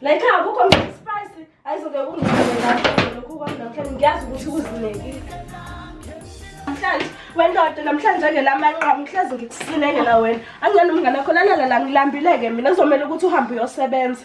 Like akukho mntu spice ayizoke kungisebenza lokhu kwami namhlanje ngiyazi ukuthi kuzinekile. Namhlanje wendoda namhlanje ngelamanqamu ngihlezi ngikusinekela wena. Angiyona umngane wakho lalala la ngilambileke mina kuzomela ukuthi uhambe uyosebenza.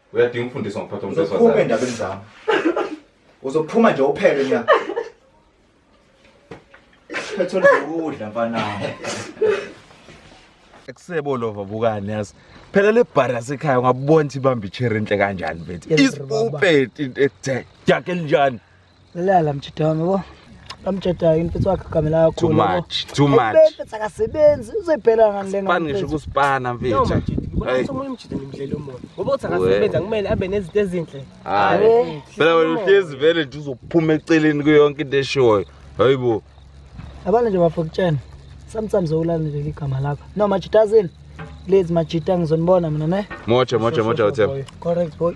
uyadinga ukufundiswa ngokuphatha umuntu uzophuma wesifazane endabeni zami uzophuma nje uphele nya phethole ukudla mfanami Kusebo lova bukani yazi. Phela le bar yasekhaya ungabona ukuthi ibamba ichair enhle kanjani mfethu. Isipupeti into ekuthe. Jake linjani? Lala mjita wami bo. Bamjetayo imfethu wakhe kamela yakho. Too much, too much. Imfethu akasebenzi, uzoyibhela ngani lenga. Span ngisho kuspana mfethu. No mjita, ngoba umuntu umjita ngimdlela umuntu. Ngoba uthi akasebenza kumele abe nezinto ezinhle. Hayi. Phela wena uhlezi vele nje uzophuma eceleni kuyo yonke into eshoyo. Hayibo. Abana nje bafokutshena. Sometimes ulana nje igama lakho. No mjita azini. Lezi mjita ngizonibona mina ne. Mocha mocha mocha uthemba. Correct boy.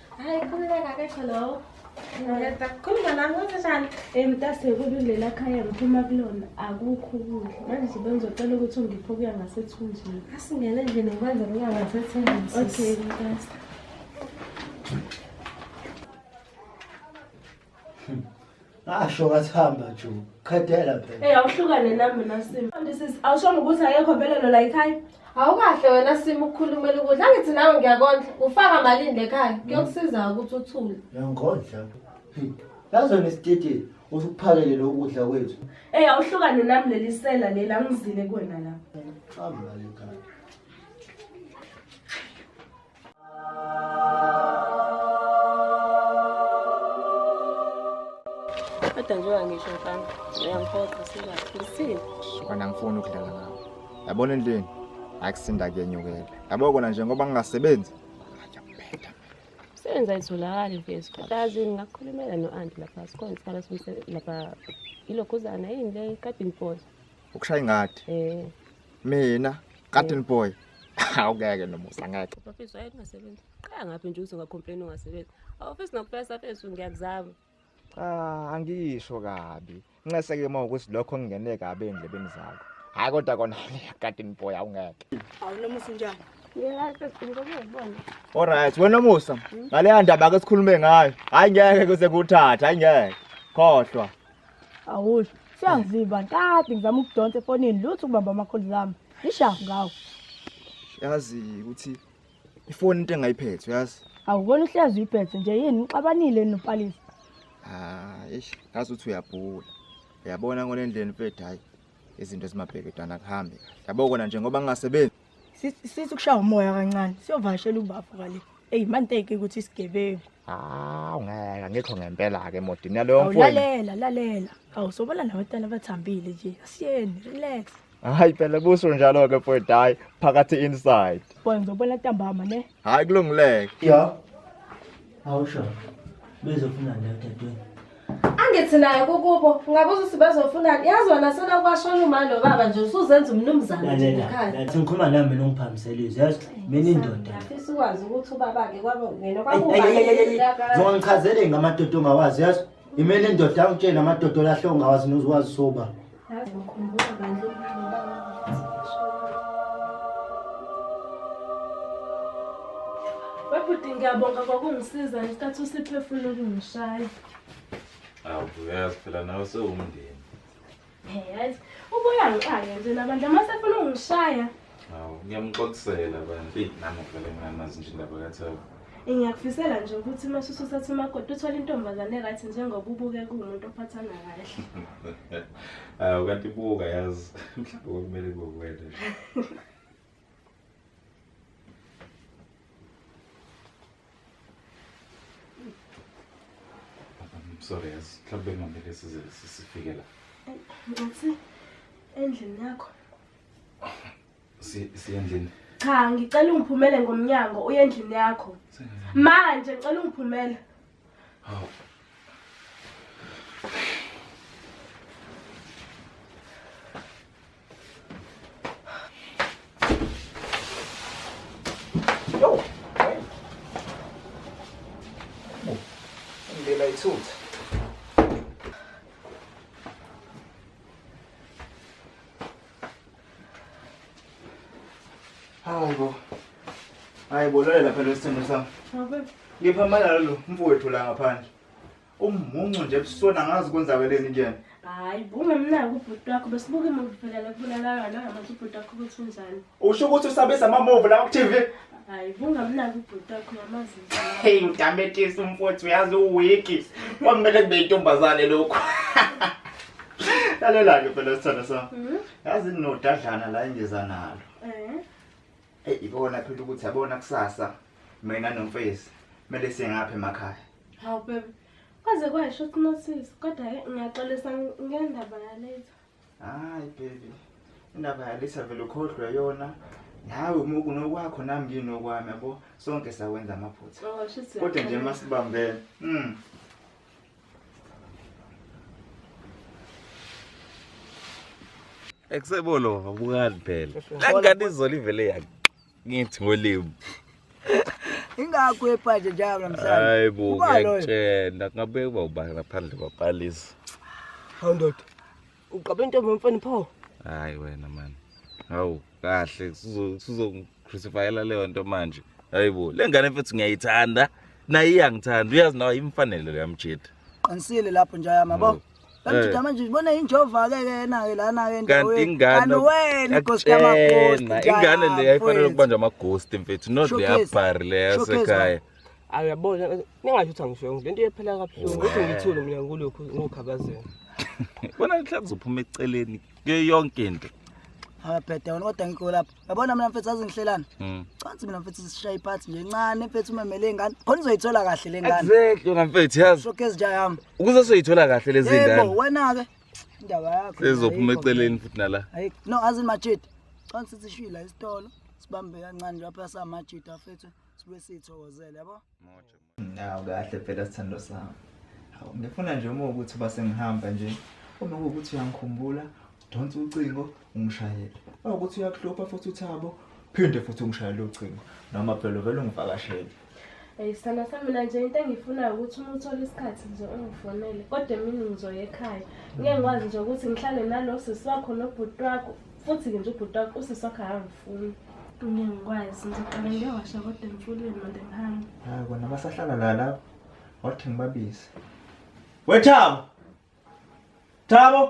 Hayi khululeka kesho lowo. Ngiyeza kukhuluma nami ukuthi njani? Eh mtase kubi lela khaya ngiphuma kulona akukho ukudla. Manje bengizocela ukuthi ungiphe okuya ngasethunjini. Asingene nje nokwenza kuya ngasethunjini. Okay mtase. ngasho ngathi hamba ju qhedela phela Hey awuhlukane nami nasimo. This is awushongo ukuthi ayekho vele lo la ekhaya. Awukahle wena simo ukukhulumela ukudla angithi nawe ngiyakondla ufaka malini lekhaya kuyokusiza ukuthi uthule. yangondla yazona isititi usukuphakele lokudla kwethu Hey awuhlukane nami leli sela leli angizile kuwena la. hamba lekhaya Kodwa njengoba ngisho mfana, uyangiphoqa singaphusile. Kona angifuni ukudlala ngawo. Yabona endlini akusinda kuyenyukela. Yabo kona nje ngoba ngingasebenzi. Ngiyaphetha. Sebenza itholakali mfethu. Kodwa yazini ngakukhulumela no-anti lapha sikhona isikhala somsebenzi lapha ilokhuzana yini le kade ngibhoza. Ukushaya ingadi. Eh, Mina garden boy awukeke nomusa ngeke bafethu waye kungasebenzi qaya ngaphi nje uthi ungacomplain ungasebenzi awufisi nokufesa fethu ngiyakuzama cha angisho kabi nxeseke uma ukuthi lokho ngingene kabi endlebeni zakho hayi kodwa kona garden boy awungeke awunomusa njani Alright, wena Musa, ngaleya ndaba ke sikhulume ngayo. Hayi ngeke kuze kuthatha, hayi ngeke. Khohlwa. awusho siyangizimba kade ngizama ukudonsa efonini lutho ukubamba amakholi zami ngishafu ngawo yazi ukuthi ifoni into engayiphethe uyazi awukona uhlezi uyiphethe nje yini ngixabanile nopalisa ah eish ngazi ukuthi uyabhula uyabona ngolendleni mfethu hayi izinto ezimabheke dana kuhambe yabo kona nje ngoba ngingasebenzi sisi kushaya umoya kancane siyovashela ubafo kale eyi manteke ukuthi isigebengu hawu ngeke ngikho ngempela-ke modi naleyo mfowenu awulalela lalela awu sobona nabatana abathambile nje asiyeni relax hayi phela buso njalo ke mfowethu hayi phakathi inside boy ngizobona ntambama ne hayi kulungileke ya Awusho. Bezofuna nje dadweni. Angithi naye kukubo ngabuza ukuthi bazofuna yazi wena sona kwashona uma lo baba nje usuzenza umnumzane nje ekhaya. Ngathi ngikhuluma nami mina ungiphambisela izwi yazi mina indoda. Ngifisa ukwazi ukuthi ubaba ke kwabo ngena kwabo. Zongichazele ngamadodo ongawazi yazi. Imele indoda angitshela amadodo lahle ongawazi nozwazi soba. Babhuti ngiyabonga kwakungisiza ngesikhathi usiphefuna ukungishaya. Awu uyazi phela nawe sewumndeni. Hey, yazi ubuya ngiqale nje nabantu amasefuna ungishaya. Hawu, ngiyamxolisela bandla. Eyi, nami ngivele nginganazi nje indaba kaThabo. Eh, ngiyakufisela nje ukuthi uma ususuthatha umakoti uthole intombazane right njengoba ubuke kuwumuntu ophathana kahle Hawu, kanti buka yazi. Mhlawumbe kwakumele kube wena nje. I'm sorry yazi. Mhlawumbe kungamele size sifike la. ngathi endlini yakho siyendlini cha ngicela ungiphumele ngomnyango uye endlini yakho manje ngicela ungiphumele hawu Hayi bo. Hayi bo lalela phela isithembu sami. Ngabe ngipha amalalo lo mfowethu la ngaphandle. Ummuncu nje ebusona ngazi kwenzakeleni kuyena. Hayi bungemnaki ubhuti wakho besibuke movie phela lekubulalayo nangamathi ubhuti wakho ukuthi unjani. Usho ukuthi usabisa amamuvu lawa ku-TV? Hayi, kungamnaki ubhuti wakho ngamazi. Hey, mdametisa umfowethu uyazi uwiki. Kwamele kube intombazane lokho. Lalela-ke phela sithanda sami. Mhm. Yazi ninodadlana la engiza nalo. Eh. Hey, ibona phela ukuthi yabona kusasa mina nomfezi kumele singaphi emakhaya. Hawu bebe. Kwaze kwasho sinosisi, kodwa ke ngiyaxolisa ngendaba yalezo. hayi baby indaba yalisa vele ukhohlwe yona nawe uma kunokwakho nami nginokwami yabo sonke sawenza amaphutha Oh, shit, kodwa nje siyaqala. masibambene mm. ekusebolo abukani phela la ngane izolo ivele yakhe ngithi ngolimu ingakho ephaje njalo namhlanje hayi bo ngiyakutshela ngabe uba ubani ngaphandle kwapalisa hawu ndoda uqabe into mfana pho hayi wena mani hawu kahle sizongicrucifyela leyo nto manje hayi bo le ngane mfethu ngiyayithanda naye iyangithanda uyazi nawe imfanele leyamjeda qinisile lapho njayama bo oh. Bamjida Eh. manje ubona injova ke kena ke lana ke kanti ingane wena inkosi kamakoti. Akutshena, ingane le yayifanele ukubanjwa amaghost mfethu not le Showcase. yabhari le Showcase, yasekhaya awu yabona ningasho ukuthi angisho le nto iyephela kabuhlungu ukuthi ngithule mina ngulokhu ngokhabazela bona mhlawumbe uzophuma eceleni kuyo yonke into Ababheda wena kodwa ngikho lapha. yabona mina mfethu azi ngihlelani mm. cansi mina mfethu sisishaye iphathi nje ncane mfethu umemele ingane khona uzoyithola kahle le ngane exactly wena mfethu yazi so kezi ja yami ukuze soyithola kahle lezi ngane yebo wena ke indaba yakho sezophuma eceleni futhi nala hayi no azi majidi cansi sishila isitolo sibambe kancane lapha samajidi afethu sibe sithokozele yabo Nawu kahle phela sithando sami. Hawu ngifuna nje uma ukuthi uba sengihamba nje uma kuwukuthi uyangikhumbula udonse ucingo ungishayele. Uma ukuthi uyakuhlupha futhi uthabo phinde futhi ungishayele ucingo noma phela uvele ungivakashele. Hey sana sami mina nje into engiyifunayo ukuthi uma uthola isikhathi nje ungifonele kodwa emini ngizoya ekhaya. Ngeke ngikwazi nje ukuthi ngihlale nalo sisi wakho nobhuti wakho futhi ke nje ubhuti wakho usisi wakho akangifuni Dume ngikwazi ngizoqala ngiyowasha kodwa emfulweni manje ngihambe hayi kona basahlala la lapho wathi ngibabize wethabo thabo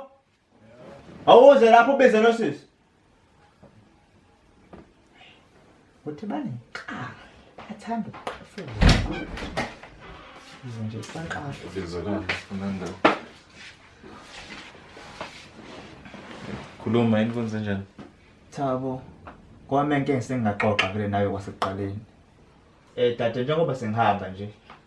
awuze lapho ubize losisi Uthi banenhlaka athanda ukuqafula. Yize nje kusanqasha. Ngizolala sifuna ndawo. Khuluma yini kwenze njani? Thabo, kwami into engisengingaxoxa vele nayo kwasekuqaleni. Eh dade njengoba sengihamba nje,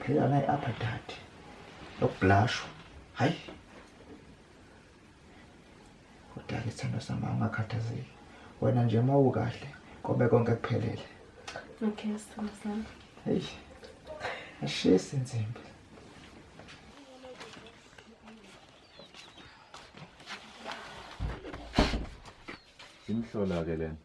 phela naye apha dade lokubhlashwa hayi kodwa ke sithando sami ungakhathazeki wena nje uma ukahle kobe konke kuphelele okay sithando sami heyi ashisi nzimbi imhlola ke lena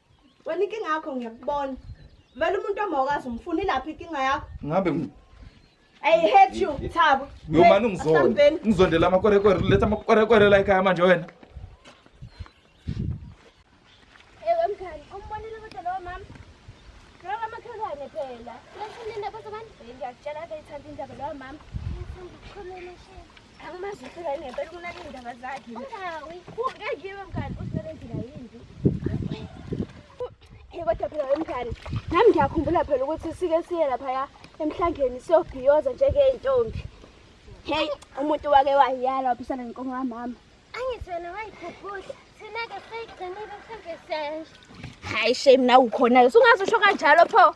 Wena inkinga yakho ngiyakubona. Vele umuntu omawukazi umfuna ilaphi inkinga yakho? Ngabe I hate you Thabo. Yo mani ngizonda. Ngizondela amakwerekwere letha amakwerekwere la ekhaya manje wena. Ewe mkhani, umbonile kodwa lo mama. Lo mama khelwane phela. Lesininda kodwa manje ngiyakutshela ke ithanda indaba lo mama. Ngithanda ukukhuluma shini. angimazi phela ngempela ukunaka iy'ndaba zakhe ungawi ngeke iwe mngani usebenzela yini kodwa phela wemngani nami ngiyakhumbula phela ukuthi sike siye laphaya emhlangeni siyobhiyoza njengey'ntombi heyi umuntu wake wayala waphisana nenkomo kamama angithi wena wayikhuphula thina-ke seyigcinile mhlawumbe siyaya nje hhayi shame nawe ukhona-ke sungazi usho kanjalo pho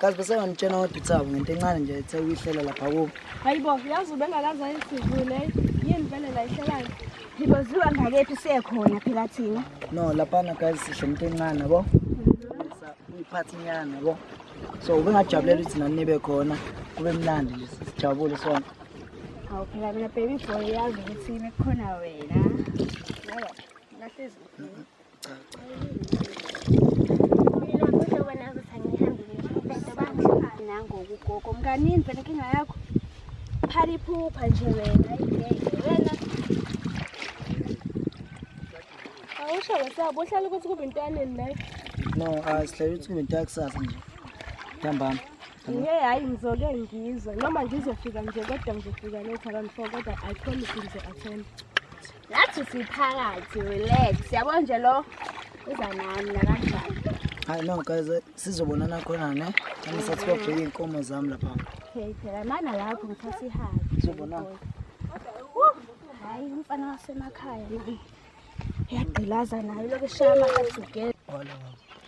kazi besenganitshena kodwa uthabo ngento encane nje ethe uyihlela lapha kubo hayi bo yazi ubengakaze ayisivule yini vele la ihlelani ngiboziwa ngakephi siyekhona phela thina no laphana kazi sihle into encane bo uyiphathi nyana bo so ubengajabulela ukuthi nani nibe khona kube mnandi nje sijabule sonke awu phela mina baby boy yazi ukuthi bekukhona wena nahlezi nangokugogo mkanini vele inkinga yakho phala iphupha nje wena ingeke wena awusho wesabo uhlala ukuthi kube into yaneni naye no asihlale ukuthi kube into yakusasa nje ntambama ye hhayi ngizoke ngizwe noma ngizofika nje kodwa ngizofika letha kanti fo kodwa i promise ngizo-attend Nathi siphakathi relax. Yabo nje lo uza nami la kanjani. Hayi no guys eh, sizobonana khona ne. Nami sathi babheke inkomo zami lapha. Okay, phela mana lapho ngithatha ihayi. Sizobonana. Hayi umfana wasemakhaya. Yagqilaza nayo lokho eshaya amakaduke. Wala.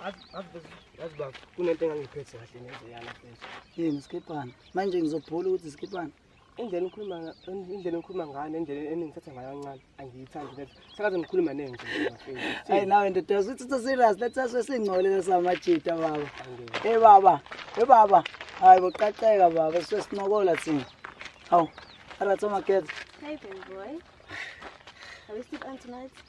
Azi baba kunento engangiphethe kahle neze yana mfethu. Yini skipana? Manje ngizobhula ukuthi skipana. indlela engikhuluma indlela engikhuluma ngayo nendlela eningithatha ngayo kancane angiyithandi lento sakaze ngikhuluma nini nje hayi nawe ndoda usuthi uthi serious let's us singcolele samajita baba hey baba hey baba hayi boqaqeka baba sesinokola thina hawu arathi omakhetha hey baby boy are we still on tonight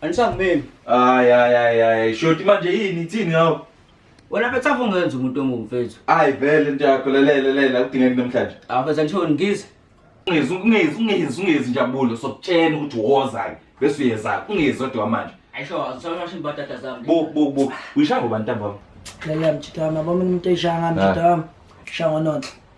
Anisangimeli. Hayi hayi hayi hayi. Shoti manje yini ithini ngawo? Wena mfethu afungenza umuntu omubi mfethu. Hayi vele into yakho lelele lele akudingeki namhlanje. Ah mfethu angishoni ngize. Ungezi ungezi ungezi ungezi njabulo sokutshena ukuthi wozayo bese uyeza ungezi odwa manje. Ayisho sawashini batata zami. Bu bu bu. Uyishaya ngoba ntambama. Lele mjidama bami umuntu eshaya ngami mjidama. Shaya ngononhle.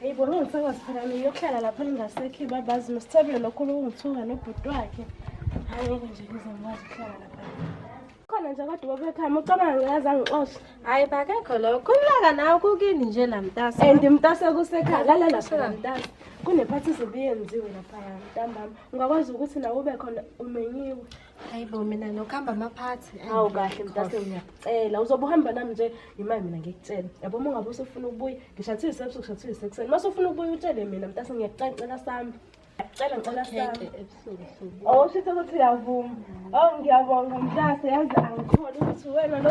Hey bona ngisakwazi phela mina yokuhlala lapha ningasekhi babazi nosithebile lokho lokungithuka nobhuti wakhe. Hayi ngeke nje ngize ngikwazi ukuhlala lapha. Khona nje kodwa babekhaya ucabanga ngaze angixoshe. Hayi bakekho lokho. Kulaka nawe kukini nje la mtasa. And mtasa kusekhaya lalela phela mtasa. Kunephathi zobuyenziwe lapha ntambama. Ungakwazi ukuthi nawe ube khona umenyiwe. hayi bo mina nokuhamba amaphathi hawu kahle mdase ngiyacela uzobe uhamba nami nje imali mina ngikutshela yabo uma ungabe usufuna ukubuya ngishathile sebusu ngishathile sekuseni uma usufuna ukubuya utshele mina mdase ngiyacela cela sami cela cela sami oh shithe ukuthi uyavuma oh ngiyabonga mdase yazi angitholi ukuthi wena lo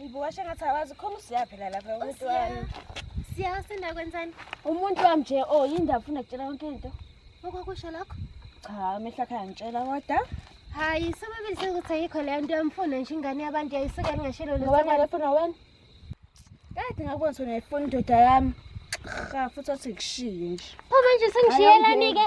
Ngibuka shengathi awazi khona usiya phela lapha umuntu wami. Siya senda kwenzani? Umuntu wami nje oh yindaba ufuna kutshela yonke into. Okwakusho lokho? Cha amehla khaya ngitshela kodwa. Hayi sobabili sekuthi ayikho leyo nto yamfuna nje ingane yabantu yayisuka ngashilo lo. Ngoba ngafuna wena. Kade ngakubona sona ifuna indoda yami. Cha futhi wathi ngishiye nje. Pho manje sengishiyelani ke?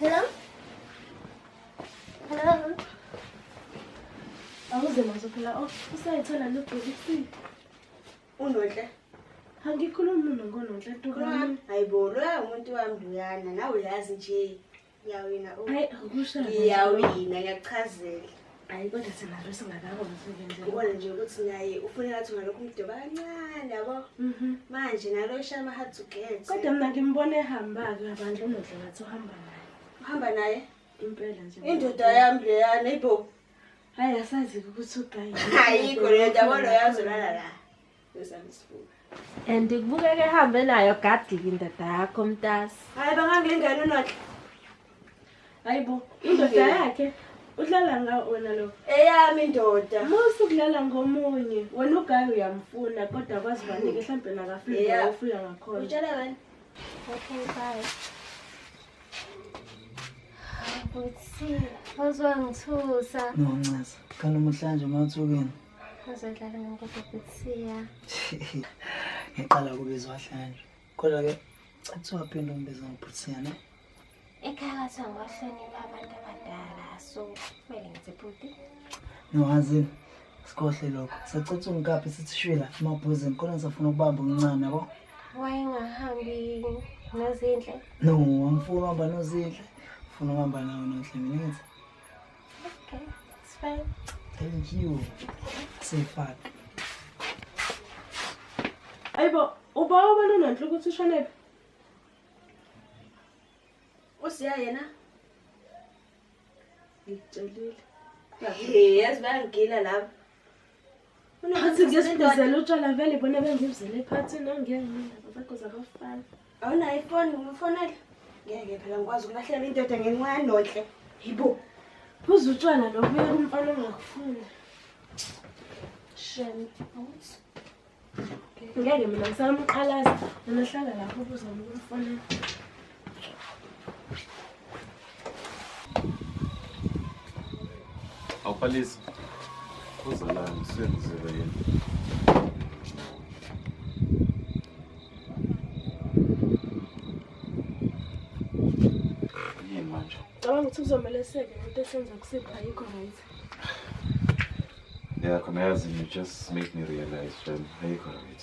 Hello? Hello? Awuze mazo phela oh, usayithola lo bhekisi. Unonhle. Angikhulumi mina ngononhle tu. Hayibo, lo umuntu wami uyana, nawe uyazi nje. Ngiyawina u. Hayi akusho. Ngiyawina ngiyakuchazela. Hayi kodwa singabe singakakwazi ukwenza. Ubona nje ukuthi naye ufuna ngathi ngalokho umdoba kancane yabo. Mhm. Manje nalo shama hard to get. Kodwa mina ngimbona ehamba ke abantu unodle ngathi uhamba naye. Uhamba naye? Impela nje. Indoda yami leya neighbor. Hayi asazi ukuthi ugayi. Hayi kodwa yabo lo yazolala la. and kubukeka ehambe nayo gadiki indoda yakho mntasi hayi bangangilingani unodla hayi bo indoda yakhe udlala nga wena lo eyami indoda musa ukudlala ngomunye wena ugayi uyamfuna kodwa kwazi banike mhlawumbe nakafika ufika ngakhona utshela wena okay bye Butsi, wazwangithusa. Noncaza, kanti umuhlanje uma uthukeni. Uzodlala ngenkosi kuthiya. Ngiqala kubizwa hlanje. Kodwa ke kuthiwa phinde umbiza ngokuthiya ne. Ekhaya kwathiwa ngohlonipha abantu abadala so kumele ngithi bhuti. Ngiwazi sikhohle lokho. Sacitha ungikaphi sithi shwila emabhuzini kodwa ngisafuna ukubamba umncane yabo. Wayengahambi nozinhle. No, angifuni uhamba nozinhle. Ngifuna uhamba nawe nozinhle mina ngithi. Okay, it's fine. Thank you. Say fuck. Ayibo, ubawa ubona unanhle ukuthi ushonephi? Usiya yena? Ngicelile. Hey, yazi bayangigila laba. Phansi ngiyesibizela utshwala vele bona bengibizele ephathini angeke ngendaba zakho zabafana. Awunayo ifoni ngimfonele. Ngeke phela ngikwazi ukulahlela indoda ngenxa yanonhle. Yibo. Phuza utshwala lo kuye kumfana ongakufuni. Shem. Awuthi. Ngeke mina ngisamqalaza. Unahlala lapho ubuza umfonela. Awuphalisi. Uzalani senzile yini? Yini manje? Cabanga ukuthi kuzomele seke into esenza kusipha ayikho right. Yeah, khona yazi you just make me realize Jen ayikho right.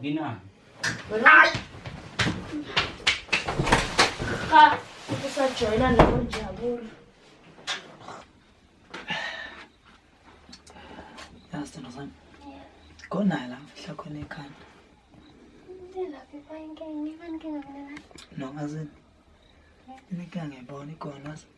Nginani? Ay! Cha, ukusajoyina nabo njabulo. Yazi sithando sami. Khona la mfihla khona ekhanda. Laphi bayinkinga, ibankinga mina. No, azini. Ininkinga ngiyibona ikhona.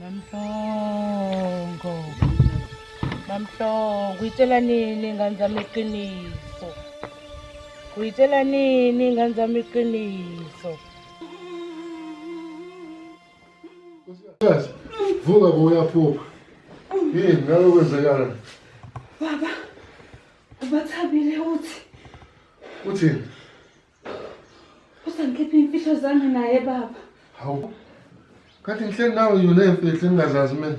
Mamhlongo. Mamhlongo, uyitshela nini ingane zami iqiniso? Uyitshela nini ingane zami iqiniso? Nkosikazi, vuka bo uyaphupha. Yini ngalo kwenzekala? Baba, ubathabile uthi. Uthini? Usangikhipha imfihlo zami naye baba. Hawu. Kanti ngihleli nawe yona imfihlo engingazazi mina.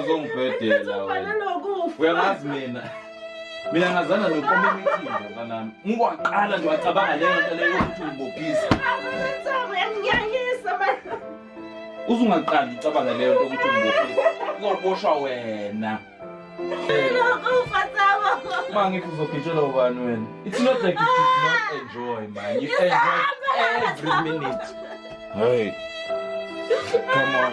Uzongibhedela wena. Uyangazi mina. Mina ngazana nokoma imithimba mntanami. Ngikwaqala nje wacabanga leyo nto leyo ukuthi ungibophisa. Uzungaqali ucabanga leyo nto ukuthi ungibophisa. Uzoboshwa wena. Uma ngithi uzogitshelwa ubani wena? It's not like you did not enjoy man. You enjoyed every minute. Hey. Come on.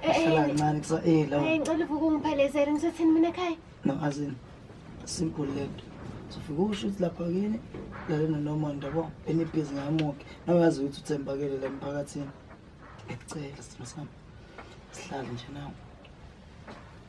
Hlalancane kusa eh lawo. Hey ngicela uvuke ungiphelezele ngisathini mina ekhaya. No azini. Simple lento. Sifike usho ukuthi lapha kini lalena noma ndabo enibhizi ngamuke. Nawazi ukuthi uthembakele la emphakathini. Ngicela sithina sami. Sihlale nje nawe.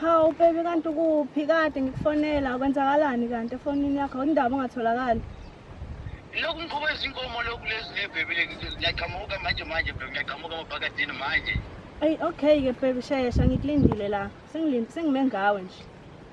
Hawu baby kanti ukuphi kade ngikufonela kwenzakalani kanti efonini yakho awundaba ungatholakali lokhu ngikhuba izinkomo lokhu lezi nebhebi ngiyaqhamuka manje manje bhebi ngiyaqhamuka amabhakadini manje eyi okay-ke bhebi shesha ngikulindile la sengime ngawe nje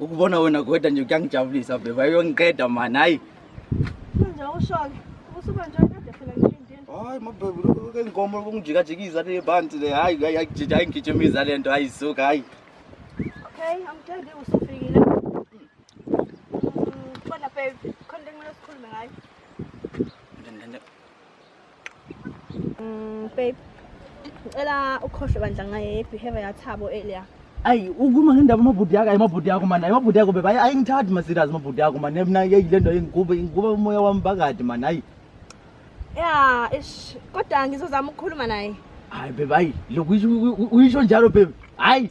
ukubona wena kweda nje kuyangijabulisa bheba uyongiqeda mani hayi manje awushoke usuba nje kade phela ngilindile hayi mabhebe ke inkomo kungijikajikiza le bantu le hayi ayijija ayingijimiza le nto ayisuka hayi okay angithandi usufikile khona mm, babe khona into ekumele sikhulume ngayo Mm, babe. Ngicela ukhohlwe bandla ngaye behavior yathabo earlier. ayi ukhuluma ngendaba amabhudi yakho ayi amabhudi yakho mani ayi amabhudi yakho bebe ayi ayi ngithathi masirazi amabhudi yakho mani mna yeyi le nto ingiguba ingiguba umoya wami phakathi mani ayi Yeah, ish. Kodwa ngizozama ukukhuluma naye. hayi bebe ayi lokhu uyisho- uyisho njalo bebe hayi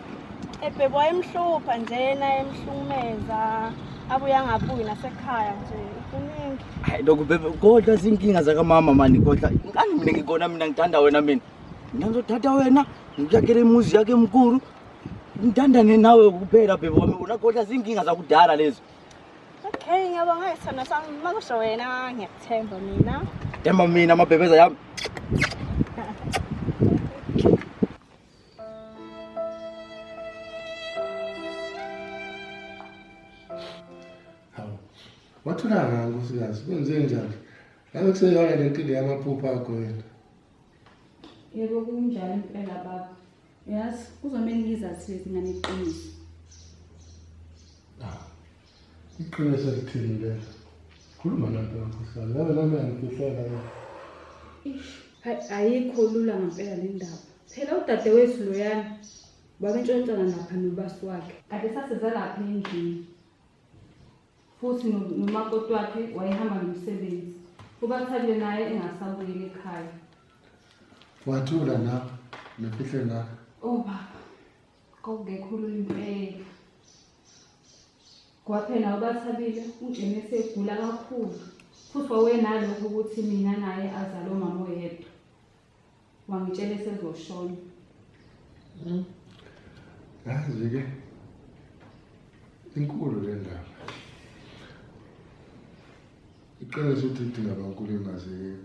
ebhebwa wayemhlupha njena emhlumeza abuye angabuyi nasekhaya nje kuningi hayi lokhu bebe kodwa zinkinga zakamama mani kodwa ngani mina ngikona mina ngithanda wena mina mina ngizothatha wena ngikuyakhele imuzi yakhe emkulu ngithandane nawe kuphela bhebe wami wona kodwa zinkinga zakudala lezo okay ngiyabonga isithando sami uma kusho wena ngiyakuthemba mina themba mina amabhebeza yami wathulanga nkosikazi kwenze njani ngabe kuseyona le nkinga yamaphupho akho yena yebo kunjalo impela baba yazi kuzomele ngizazise zingane iqiniso Iqiniso elithini le? Khuluma nanto yomkhuhlane. Yabe nami yangifihlela le. Ayikho lula ngempela le ndaba. Phela udadewethu loyana babentshontshana lapha nobasi wakhe. Kade saseza lapha endlini. Futhi nomakoti wakhe wayehamba nomsebenzi. Ubathathe naye engasabuyeli ekhaya. Wathula na? Nefihle na? Oh baba. Kwakungekhulu impela. Ngoba phela ubathabile uJeni esegula kakhulu futhi wawenalokho ukuthi mina naye azale umama oyedwa. Wangitshela esezoshona. Hmm. Yazi-ke inkulu le ndaba. Iqiniso ukuthi idinga bankulu engazeki.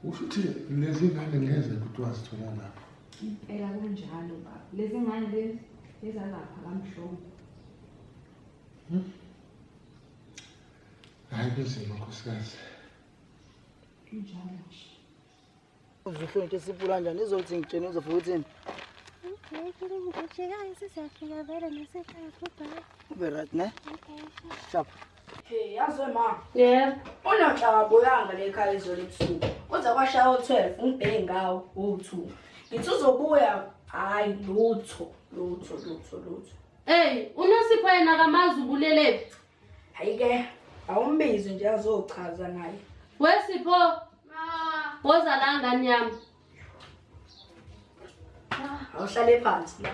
Usho ukuthi lezi ngane ngeze kuthiwa zithola lapho. Impela kunjalo baba. Lezi ngane lezi ezalapha kamhlongo. Hmm? Hayi kunzima nkosikazi. Kunjalo nje. Uzohlonza ukuthi sipula kanjani izothi ngitshene uzofika uthini? Ngiyekile ngijikayo sizafika vele nasekhaya goodbye. Ube right ne? Okay. Sharp. Hey, yazi we ma. Yeah. Unonhla wabuyanga le ekhaya izolo ebusuku. Kuze kwashaya u-12 ngibheke ngawo u-2. Ngithi uzobuya hayi lutho lutho lutho lutho. Hey, uNosipho yena akamazi ubulelephi. Hayi ke awumbizi nje azochaza naye. We Sipho, Ma, woza la ngane yami. awuhlale phansi la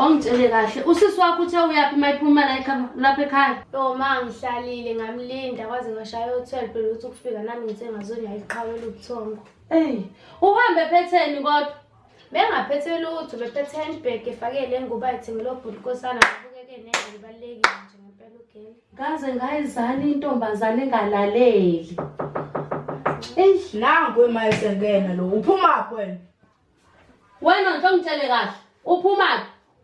ongitshele kahle usisi wakho uthe uyaphi uma iphuma la ekhaya- lapha ekhaya yo ma ngihlalile ngamlinda kwaze ngashaya o-twelve phela ukuthi ukufika nami ngithe ngazonya iqhawela ubuthongo eyi uhambe phetheni kodwa bengaphethe lutho bephethe handbag efakele enguba ethengele obhuti kosana ngabukeke nendlela ibalulekile nje ngempela ugele Ngaze ngayizani intombazane engalaleli. Eish, nangu emayesengena lo. Uphuma kwena. Wena nje ongitshele kahle. Uphuma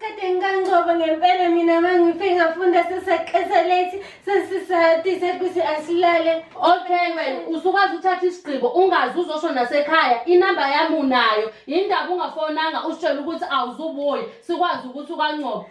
Kade ngikancobo ngempela mina mangife ngafunda seseqesa late sesisati sekuthi asilale. Okay wena usukwazi uthatha isigqibo ungazi uzosho nasekhaya inamba yami unayo yindaba ungafonanga usitshela ukuthi awuzubuye sikwazi ukuthi ukancobo.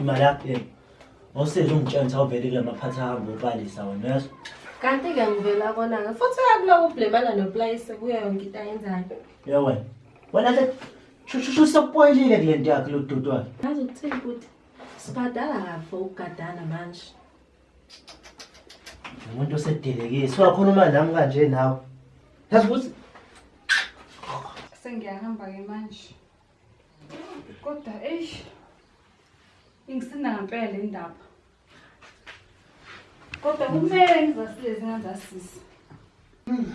imali yakho le ngosizwe ungitshela ukuthi awuveli kula maphathi ahamba ubalisa wena uyezwa kanti-ke ngivela konake futhi uyakuloko ubhlemana nopulayise kuyo yonke into ayenzayo ye wena wena ke shushu sokupoyilile kule nto yakhe lo dudu wakhe ngazi ukuthini ukuthi sibhadala kahle ukugadana manje umuntu osedelekile siwakhuluma nami kanje nawe yazi ukuthi sengiyahamba-ke manje kodwa eish ingisinda ngampela le ndaba kodwa kumele ngizasilezi ngazasisi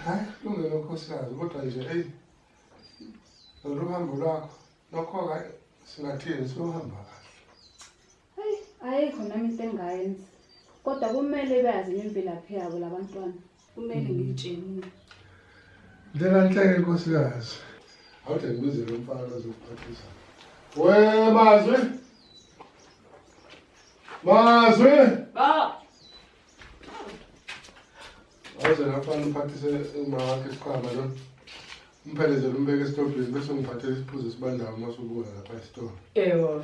hayi lungelo nkosikazi kodwa nje eyi lolu hambo lwakho lokho-ke singathini siyohamba kahle Hayi, ayikho nami into engayenza. Kodwa kumele bazi imvelaphi yabo labantwana. Kumele ngitshene. Ndlela nhleke nkosikazi. Awuthe ngibize lo mfana ozokuphathisa. We mazwi. Mazwi. Ba. Awuze nafana uphathise uma wakhe isiqhama lo. Umphelezele umbeke esitobhini bese ungiphathela isiphuzo sibandayo uma usubuya lapha esitolo. Ewo.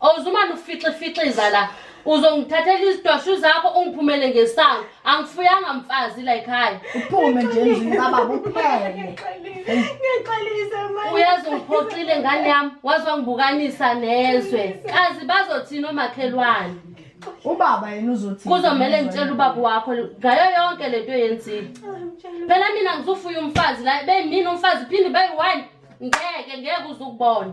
Awuzumane ufixe fixiza la. Uzongithathela izidwashu zakho ungiphumele ngesango. Angifuyanga mfazi la ekhaya. Uphume nje endlini kababa uphele. Ngixolise manje. Uyazi ungiphoxile ngane yami, waze wangibukanisa nezwe. Kazi bazothini omakhelwane? Ubaba yena uzothi. Kuzomele ngitshele ubaba wakho ngayo yonke lento yenzile. Phela mina ngizofuya umfazi la, bemini umfazi phinde bayi-one. Ngeke ngeke uzukubona.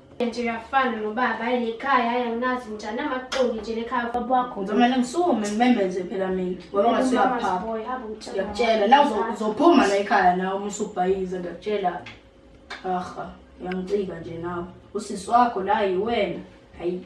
nje uyafana nobaba ayi lekhaya ayi anginazi njani amaxoki nje lekhaya baba wakho ngizomele ngisukume ngimemeze phela mina ngoba ngasuyaphapha ngiyakutshela la uzophuma la ekhaya nawe uma usubhayiza ngiyakutshela aha uyangicika nje nawe usisi wakho la yiwena hayi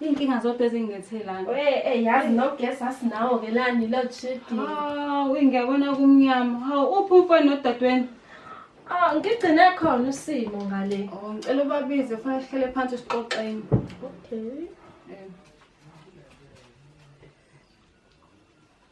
Iy'nkinga zodwa ezingingethelana. Hey, hey, yazi nogesi asinawo ke lani load shedding. Hawu, ingiyabona kumnyama. Hawu, uphi umfana nodadewenu? Ah, ngigcine khona usimo ngale. Oh, ngicela ubabize, fanele sihlele phansi sixoxeni. Okay.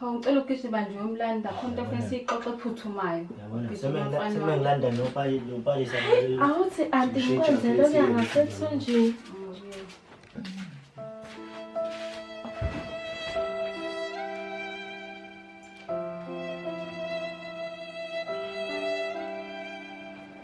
Hawu ngicela ugijima nje uyomlanda khona into ofuna siyixoxe ephuthumayo. Semengilanda nopayisa. Awuthi anti ngikwenzele okuya ngasethunjini.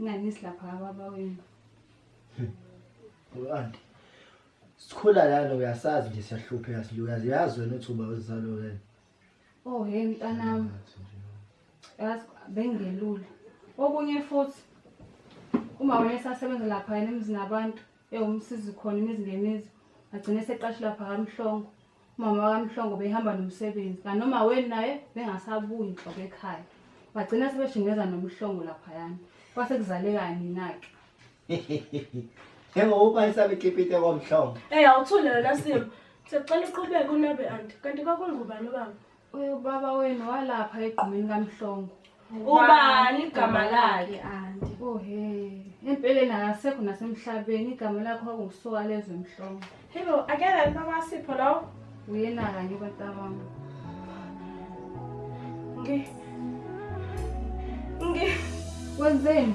Ngani silapha kababa wenu? Anti. Sikhula lana uyasazi nje siyahlupheka silukazi. Uyazi wena uthi uba uzalo wena. Oh hey mntanami. Yazi bengelula. Okunye futhi uma wena esasebenza lapha yena emzini abantu ewumsizi khona imizi ngemizi agcine seqashe lapha kamhlongo umama wakamhlongo behamba nomsebenzi kanoma weni naye bengasabuyi inhloko ekhaya bagcina sebeshingeza nomhlongo laphayana kwase kuzalekani nake Yebo uba isabe kipite komhlongo. Eh awuthule wena Simo. Sicela uqhubeke unabe anti. Kanti kwakungubani ubaba? Uyobaba wenu walapha egqumeni kamhlongo. Ubani igama lakhe anti? Oh he. Empeleni akasekho nasemhlabeni igama lakho kwakungusuka lezwe mhlongo. Hello, akela baba Sipho lo. Uyena kanye bantabami. Ngi. Ngi. Wenzeni?